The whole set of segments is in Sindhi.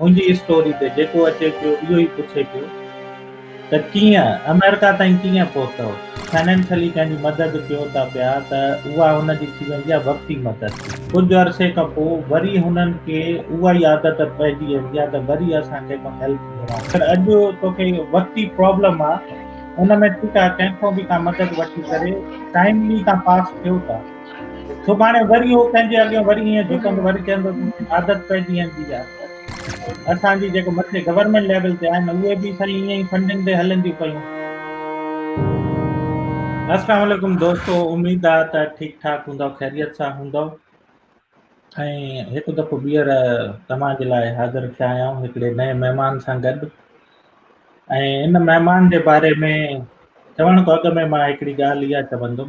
منهنجي اسٽوري تي جيڪو اچي پيو اهو ئي پڇي پيو ته ڪيئن آمريڪا تائين ڪيئن پهتؤ؟ فنانشلي ڪنهن جي مدد ڪيو ٿا پيا ته اها هن جي ٿي ويندي آهي وقتي مدد. ڪجهه عرصي کان پوء وري هنن کي اها ئي عادت پئجي ويندي آهي ته وري اسان ڪنهن کان هيلپ گهرائون پر اڄ توکي وقتي پرابلم آهي ان ۾ ٺيڪ آهي ڪنهن کان به ڪا مدد وٺي ڪري ٽائملي تان پاس ٿيو ٿا. سڀاڻي وري هو پنهنجي اڳيان وري ائين جهڪندو وري چوندو عادت پئجي ويندي آ اسان جي جيڪو مٿي گورنمينٽ ليول تي آهن اهي به سائين ائين ئي فنڊنگ تي هلنديون پيون السلام علیڪم دوستو اميد آ ته ٺيڪ ٺاڪ هوندو خيريت سان هوندو ۽ هڪ دفعو ٻيهر توهان جي لاء حاضر ٿيا آهيون هڪڙي نئين مهمان سان گڏ ۽ ان مهمان جي باري ۾ چوڻ کان اڳ ۾ مان هڪڙي ڳالهه اها چوندم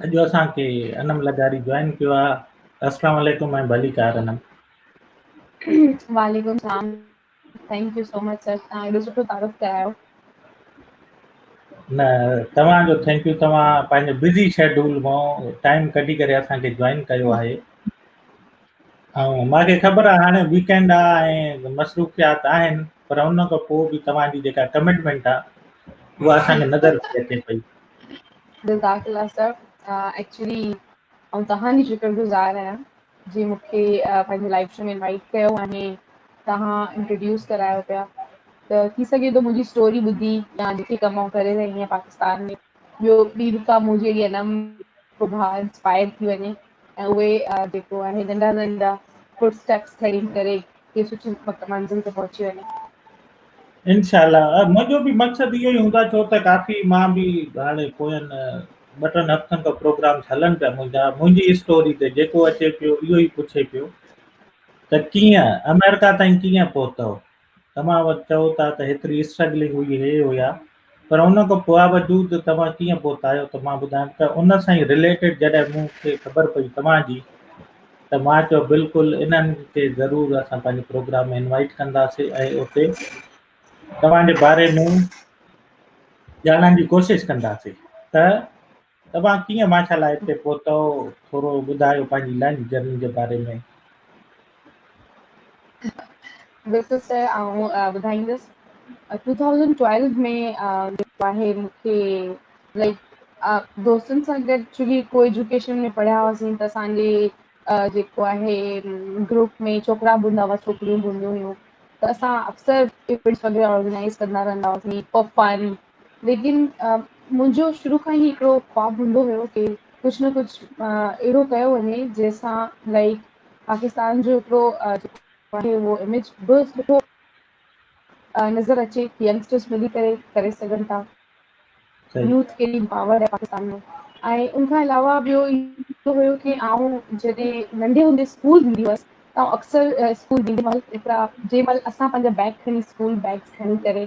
اڄ اسان کي انم لغاري جوائن ڪيو آ اسلام عليڪم ۽ ڀليڪار انم. وعليڪم سلام thank you so much sir تھان ايڏو سٺو تعارف ڪرايو. نه توھان جو ٿينڪ يو توھان پنھنجي بزي شيڊول مون ٽائيم ڪڍي ڪري اسان کي جوائن ڪيو آھي ۽ مان کي خبر آ ھاڻي ويڪينڊ آ ۽ مصروفيات آھن پر ان کان پوء به توھان جي جيڪا ڪمٽمينٽ آ اھا اسان کي نظر اچي پئي. جزاڪ الله صاحب ايڪچولي آئون توهان جي شڪر گذار آهيان جي مون کي پنهنجي لائف شو ۾ انوائٽ ڪيو آهي توهان انٽروڊيوس ڪرايو پيا ته ٿي سگهي ٿو منهنجي اسٽوري ٻڌي يا جيڪي ڪم آئون ڪري رهي آهيان پاڪستان ۾ ٻيو ٻي رڪا منهنجي اهڙي انم سڀا انسپائر ٿي وڃي ۽ اهي جيڪو آهي ننڍا ننڍا فوٽ اسٽيپس کڻي ڪري ڪي سٺي منزل تي پهچي وڃي انشاء الله منهنجو به مقصد اهو ئي هوندا ڇو ته ڪافي مان به هاڻي پوين ٻه ٽن هفتن کان پروگرامس هلن پيا منهنجا منهنجي اسٽوري تي جيڪو اچي پيو اهو ئي پڇي پيو ته ڪيئن آمريڪا تائين ڪيئن پهتو تمام وقت چئو ٿا ته هيتري اسٽرگلنگ هئي هي هيا پر ان کان باوجود توهان ڪيئن پهتا آهيو ته مان ٻڌايم ته ان سان ئي رليٽيڊ جڏهن مون کي خبر پئي توهان جي ته مان چيو بلڪل انهن کي ضرور اسان پنهنجي پروگرام ۾ انوائٽ ڪنداسين ۽ اتي توهان جي باري ۾ ڄاڻڻ جي ڪوشش ڪنداسين ته توهان ڪيئن ماشا الله هتي پهتؤ ٿورو ٻڌايو پنهنجي لنچ جرني جي باري ۾. بلڪل سر آئون ٻڌائيندس ٽو ٿائوزنڊ ٽويلو ۾ جيڪو آهي مون کي لائڪ دوستن سان گڏ چونڪي ڪو ايجوڪيشن ۾ پڙهيا هئاسين ته اسانجي جيڪو آهي گروپ ۾ ڇوڪرا به هوندا هئا ڇوڪريون به هونديون هيون ته اسان اڪثر ايونٽس وغيره آرگنائز ڪندا رهندا هئاسين فار فن ليڪن منهنجو شروع کان ئي هڪڙو خواب هوندو هيو ڪي ڪجھ نه ڪجھ اهڙو ڪيو وڃي جنهن سان لائڪ پاڪستان جو هڪڙو اهو اميج به سٺو نظر اچي ينگسٽرس ملي ڪري ڪري سگهن ٿا صحيح يوٿ ڪيڏي پاورڊ آهي پاڪستان ۾ ۽ ان کان علاوه ٻيو اهو هيو ڪي آئون جڏهن ننڍي هوندي اسڪول ويندي هئس ته اڪثر اسڪول ويندي مهل هڪڙا جنهن مهل اسان پنهنجا بيگ کڻي اسڪول بيگس کڻي ڪري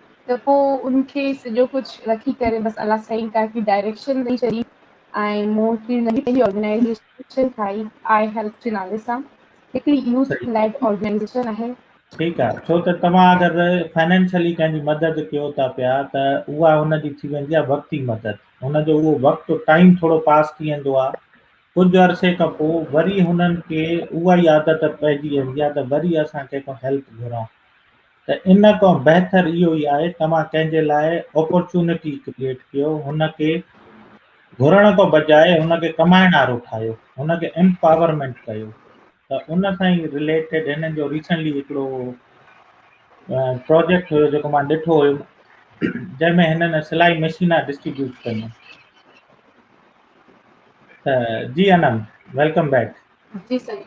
ته پوء ان کي سڄو ڪجهه رکي ڪري بس الله سائين ڪافي ڊائريڪشن ڏئي ڇڏي ۽ مون هڪڙي ننڍي پنهنجي آرگنائيزيشن ٺاهي آء هيلپ جي نالي سان هڪڙي يوٿ صحيح ليڊ آرگنائيزيشن آهي. ٺيڪ آهي ڇو ته توهان اگر فنانشلي ڪنهن جي مدد ڪيو ٿا پيا ته اها ان جي ٿي ويندي آهي وقتي مدد ان جو اهو وقت ٽائيم ٿورو پاس ٿي ويندو آهي ڪجهه عرصي کان پوء وري هنن کي اها ئي عادت پئجي ويندي آهي ته وري اسان ڪنهن کان هيلپ گهرون ته ان کان بهتر اهو ئي آهي توهان ڪنهن جي لاء اپرچونٽي ڪريئيٽ ڪيو هن کي گهرڻ کان بجاء هن کي ڪمائڻ وارو ٺاهيو هن کي امپاورمينٽ ڪيو ته ان سان ئي رليٽيڊ هنن جو ريسنٽلي هڪڙو پروجيڪٽ هيو جيڪو مان ڏٺو هيم جنهن ۾ هنن سلائي مشينا ڊسٽريبيوٽ ڪيون جي انم ويلڪم بيڪ جي سر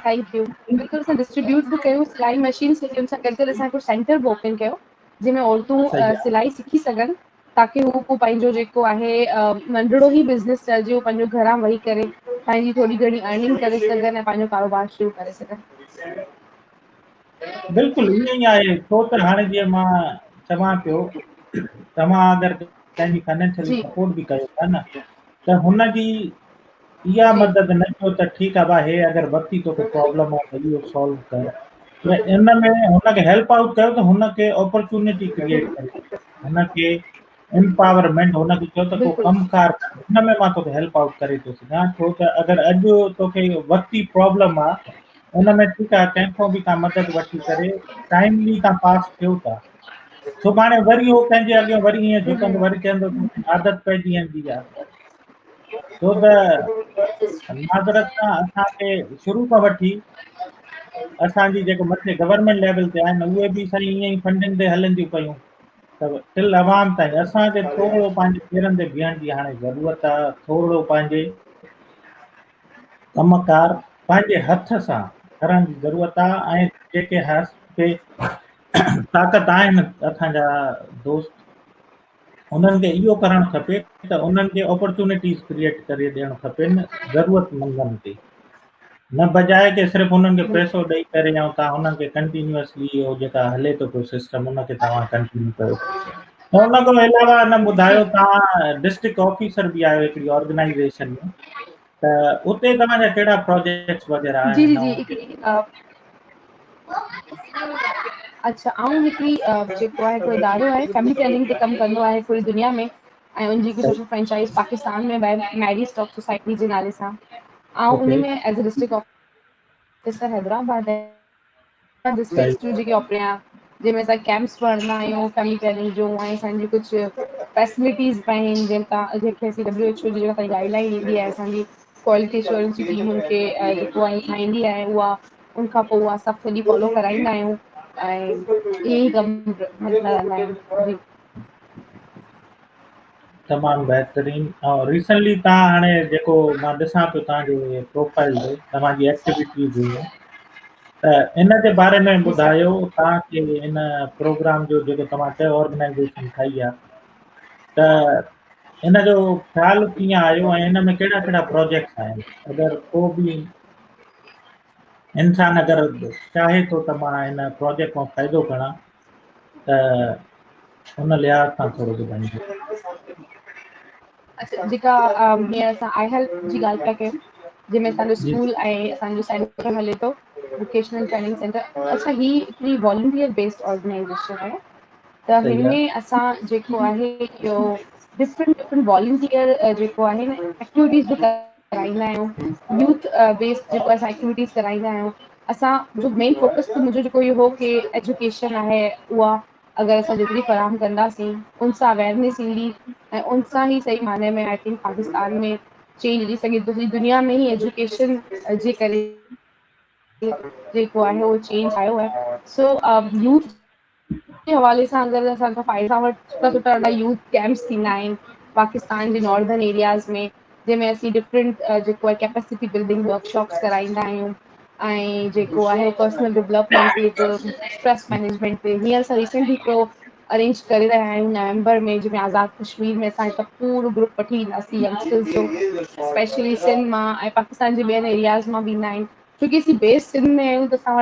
ٿينڪ يو بلڪل اسان ڊسٽريبيوٽ به ڪيون سلائي مشينس ته ان سان گڏ گڏ اسان هڪڙو سينٽر به اوپن ڪيو جنهن ۾ عورتون صحيح آ سلائي سکي سگهن تاڪي هو پوء پنهنجو جيڪو آهي ننڍڙو ئي بزنس چئجي اهو پنهنجو گهران ويهي ڪري پنهنجي ٿوري گهڻي ارننگ ڪري سگهن ۽ پنهنجو ڪاروبار شروع ڪري سگهن بلڪل ائين ئي آهي ڇو ته هاڻي جيئن مان چوان پيو توهان اگر ڪنهن جي فنانشلي جي سپورٽ به ڪيو ٿا نه ته هن جي اها مدد نه ڪيو ته ٺيڪ آ ڀاهي اگر وقتي تو کي پرابلم آ ته اهو سالو ڪر ته ان ۾ هن کي هيلپ آئوٽ ڪيو ته هن کي اپرچونٽي ڪرييٽ ڪري هن کي امپاورمينٽ هن کي چيو ته تو ڪم ڪار هن ۾ مان توکي هيلپ آئوٽ ڪري ٿو سگهان ڇو ته اگر اڄ توکي وقتي پرابلم آ ان ۾ ٺيڪ آ ڪنهن کان به تان مدد وٺي ڪري ٽائملي تان پاس ٿيو ٿا سڀاڻي وري هو پنهنجي اڳيان وري ائين جهڪندو وري چوندو عادت پئجي ويندي آ ڇو ته معذرت سان اسان کي شروع کان وٺي اسان جي جيڪو مٿي گورنمينٽ ليول تي آهن اهي به سائين ائين ئي فنڊنگ تي هلن ٿيون پيون ته تل عوام تائين اسان کي ٿورڙو پنهنجي پيرن تي بيهڻ جي هاڻي ضرورت آ ٿورڙو پنهنجي ڪم ڪار پنهنجي هٿ سان ڪرڻ جي ضرورت آ ۽ جيڪي هاڪي طاقت آهن اسان جا دوست انهن کي اهو ڪرڻ کپي ته انهن کي اپرچونيٽيز ڪريئيٽ ڪري ڏيڻ کپن ضرورت مندن کي نه بجاء ته صرف انهن کي پئسو ڏئي ڪري يا تان انهن کي ڪنٽينيوسلي اهو جيڪا هلي ٿو پيو سسٽم ان کي توهان ڪنٽينيو ڪيو ان کان علاوه ان ٻڌايو تان ڊسٽرڪٽ آفيسر به آهي هڪڙي آرگنائيزيشن ۾ ته اتي توهان جا ڪهڙا پروجيڪٽس وغيرا آهن جي جي هڪڙي اچھا آئون هڪڙي جيڪو آهي ڪو ادارو آهي فيملي پلاننگ تي ڪم ڪندو آهي پوري دنيا ۾ ۽ ان جي سوشل فرنچائز پاڪستان ۾ بي ميري اسٽاڪ سوسائٽي جي نالي سان آئون ان ۾ as a district officer Hyderabad اسان جي اسڪولس جون جيڪي اپريا جنهن ۾ اسان ڪيمپس پڙهندا آهيون فيملي پلاننگ جو ۽ اسانجي ڪجهه فيسلٽيز به آهن جنهن تان جيڪي اسين ڊبليو ايڇ او جي اسان جي گائڊ لائين ڏيندي آهي اسانجي ڪوالٽي اشورنس جي ٽيم کي جيڪو آهي ٺاهيندي آهي اها ان کان پوء اسان سڀ سڄي فالو ڪرائيندا آهيون ۽ ائين ڪم ڪندا رهندا آهيون جي تمام بهترين ۽ ريسنٽلي تان هاڻي جيڪو مان ڏسان پيو تان جو پروفائل جو تمام جي ايڪٽيويٽي جو ته ان جي باري ۾ ٻڌايو تان کي ان پروگرام جو جيڪو تمام چيو آرگنائيزيشن ٺاهي آ ته ان جو خيال ڪيئن آيو ۽ ان ۾ ڪهڙا ڪهڙا پروجيڪٽس آهن اگر ڪو به انسان اگر چاهي ٿو ته مان ان پروجيڪٽ مان فائدو کڻان ته ان لحاظ سان ٿورو ٻڌائينجو. اچا جيڪا جيئن اسان آئي هيلپ جي ڳالهه پيا ڪيون جنهن ۾ اسانجو جي اسڪول ۽ اسانجو سينٽر هلي ٿو ووڪيشنل ٽريننگ سينٽر اچا هي هڪڙي والنٽير بيسڊ آرگنائزيشن آهي ته صحيح هن آ، ۾ اسان جيڪو آهي اهو ڊفرنٽ ڊفرنٽ والنٽير جيڪو آهي ن ايڪٽيوٽيز به ڪر ڪرائيندا آهيون يوٿ بيس جيڪو اسان ايڪٽيويٽيز ڪرائيندا آهيون اسان جو مين فوڪس ته منهنجو جيڪو اهو هو ڪي ايجوڪيشن آهي اها اگر اسان جيتري فراهم ڪنداسين ان سان اويرنيس ايندي ۽ ان سان ئي صحيح معنيٰ ۾ آء ٿنڪ پاڪستان ۾ چينج اچي سگهي ٿو دنيا ۾ هي ايجوڪيشن جي ڪري جيڪو آهي اهو چينج آيو آهي سو يوٿ ان حوالي سان اگر اسان کان فائدا وٺ سٺا سٺا ھيڏا يوز ڪيمپس ٿيندا آھن پاڪستان جي نارڌن ايرياز ۾ جنھن ۾ اسين ڊفرنٽ جيڪو آھي ڪيپيسٽي بلڊنگ ورڪشاپس ڪرائيندا آھيون ۽ جيڪو آھي پرسنل ڊولپمينٽ تي به اسٽريس مئنيجمينٽ تي ھينئر اسان ريسينٽلي ھڪڙو ارينج ڪري رھيا آھيون نومبر ۾ جنھن ۾ آزاد ڪشمير ۾ اسان ھڪ پورو گروپ وٺي وينداسين اسپيشلي سنڌ مان ۽ پاڪستان جي ٻين ايرياز مان به ايندا آھن ڇوڪي اسين بيس سنڌ ۾ آهيون ته اسان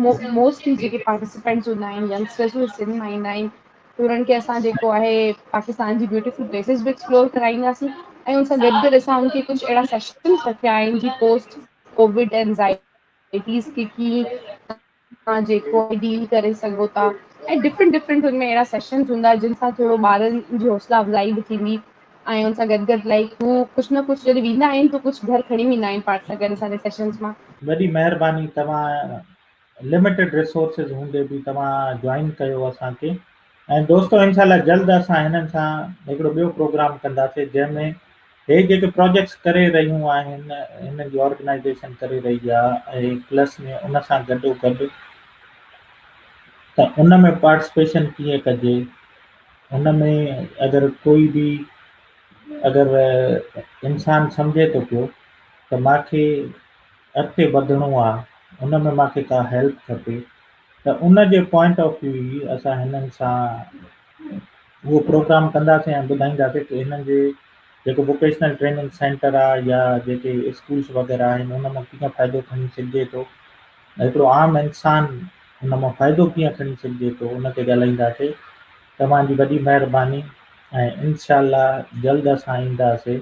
وٽ موسٽلي جيڪي پارٽيسپينٽس هوندا آهن ينگسٽرس اهي سنڌ مان ايندا آهن ته انهن کي اسان جيڪو آهي پاڪستان جي بيوٽيفل پليسز به ايڪسپلور ڪرائينداسين ۽ ان سان گڏ گڏ اسان ان کي ڪجهه اهڙا سيشنز رکيا آهن جي پوسٽ ڪووڊ اينزائٽي توهان جيڪو به ڊيل ڪري سگهو ٿا ۽ ڊفرنٽ ڊفرنٽ هن ۾ اهڙا سيشنز هوندا جن سان ٿورو ٻارن جي حوصلا افزائي به ٿيندي ۽ هن سان گڏ گڏ لائڪ هو ڪجھ نه ڪجھ جڏهن ويندا آهن ته ڪجھ گهر کڻي ويندا آهن پاڻ سان گڏ اسانجي سيشنز مان وڏي مهرباني توهان لمٽيڊ رسورسز هوندي به توهان جوائن ڪيو اسانکي ۽ دوستو انشاء الله جلد اسان هنن سان هڪڙو ٻيو پروگرام ڪنداسين جنهن ۾ هي جيڪي پروجيڪٽس ڪري رهيون آهن هنن جي آرگنائيزيشن ڪري رهي آهي ۽ پلس ۾ ان سان گڏو گڏ ته ان ۾ پارٽيسپيشن ڪيئن ڪجي ان ۾ اگر ڪوئي به اگر انسان سمجهي ٿو پيو ته ماکي اڳتي وڌڻو آهي ان ۾ ماکي ڪا هيلپ کپي ته ان جي پوائنٽ آف ويو ئي اسان هنن سان اهو پروگرام ڪنداسين ۽ ٻڌائينداسين ته هنن جي جيڪو ووڪيشنل ٽريننگ سينٽر آهي يا جيڪي اسڪولس وغيره آهن ان مان ڪيئن فائدو کڻي سگهجي ٿو هڪڙو عام انسان ان مان فائدو ڪيئن کڻي سگهجي ٿو ان تي ڳالهائينداسين توهان جي وڏي مهرباني ۽ انشاء الله جلد اسان اينداسين